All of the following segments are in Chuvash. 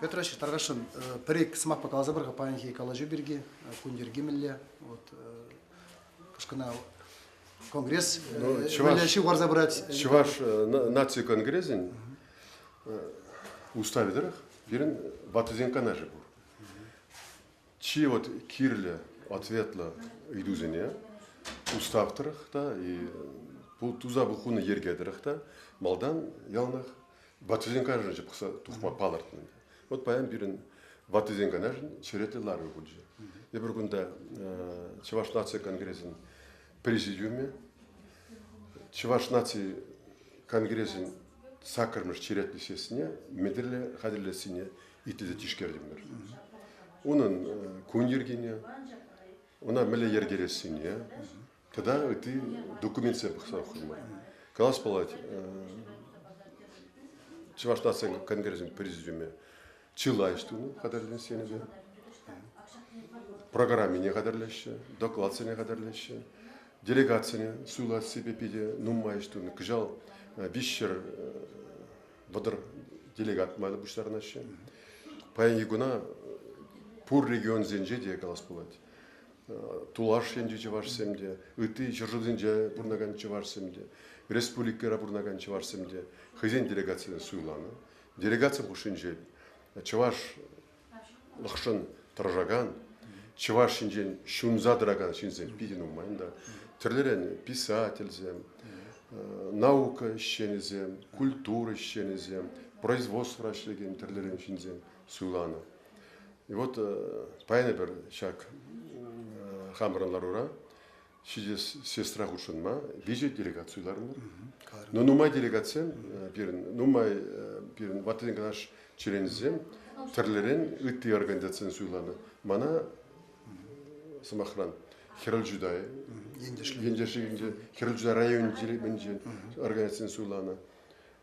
Петра Таркашин, пӗр-ик сӑмахпа каласа пар-ха паянхи калаҫу пирки, кун йӗрки мӗнле? Вот, кашкӑна конгресс ну, чӑваш, ҫыв парса пырать. Чӑваш наци конгресӗн уставӗ тӑрӑх пирӗн ваттисен канашӗ пур. Чи вот кирлӗ, ответлӑ ыйтусене устав тӑрӑх та, туса пухуны йӗрке тӑрӑх та малтан яланах ваттисен канашӗнче пӑхса тухма палӑртнӑ. Вот паян пирӗн ваттисен канашӗн черетлӗ ларӑвӗ пулчӗ. Эпир кунта Чӑваш наци конгресӗн президиумӗ, Чӑваш наци конгресӗн саккӑрмӗш черетлӗ сессине мӗнле хатӗрлессине итлесе тишкертӗмӗр. Унӑн кун йӗркине, ӑна мӗнле йӗркелессине тата ытти документсем пӑхса хурман. Калас пулать, Чӑваш нацин конгресӗн президиумӗ чылай тунӑ хатӗрленсенӗве. Программине хатӗрлеҫҫӗ, докладсене хатӗрлеҫҫӗ. Делегацине суйлассипе питӗ нумай тунӑ. Кӑҫал виҫҫӗр вӑтӑр делегат майлӑ пуҫтарӑнаҫҫӗ. Паянхи куна пур регионсенче те калас пулать. Тулаш енчи чӑвашсем те, ытти ҫӗршывсенче пурӑнакан чӑвашсем те, республикӑра пурӑнакан чӑвашсем те хӑйсен делегацисене суйланӑ. Делегацин хушшинче чӑваш лӑхшӑн тӑрӑшакан, чӑваш ҫинчен ҫунса тӑракан ҫынсем питӗ нумай та. Тӗрлӗрен писательсем, наука ӗҫченӗсем, культура ӗҫченӗсем, производствӑра ӗҫлекен тӗрлӗрен ҫынсем суйланӑ. И вот паян эпир ҫак хамӑрӑн ларура ҫитес сестра хутшӑнма виҫӗ делегаци суйларӑмӑр. Но нумай делегатсем пирӗн, нумай пирӗн ваттин канаш членӗсем тӗрлӗрен ытти организацисен суйланӑ. Мана сӑмахран Хӗрел Жудай ентешлик ентешлик хӗрел Жудай районӗнче организацин суйланӑ.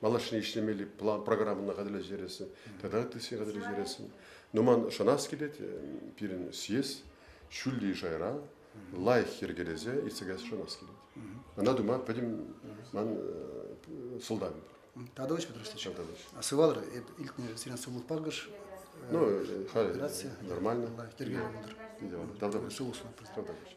малашне ӗҫлемелли план программӑна хатӗрлесе тата ытти сфера хатӗрлесе Нуман шанас килет пирӗн съезд ҫӳлли шайра лайӑх йӗркелесе иртсе каяс шанас килет. Ӑна тума пӗтӗм ман сӑлтавым пур. Тадович Петрович Тадович. А сывалӑр эп илтнӗ сирен сывлӑх пакӑш. Ну, халь нормально. Йӗрке Давдович. Давдович.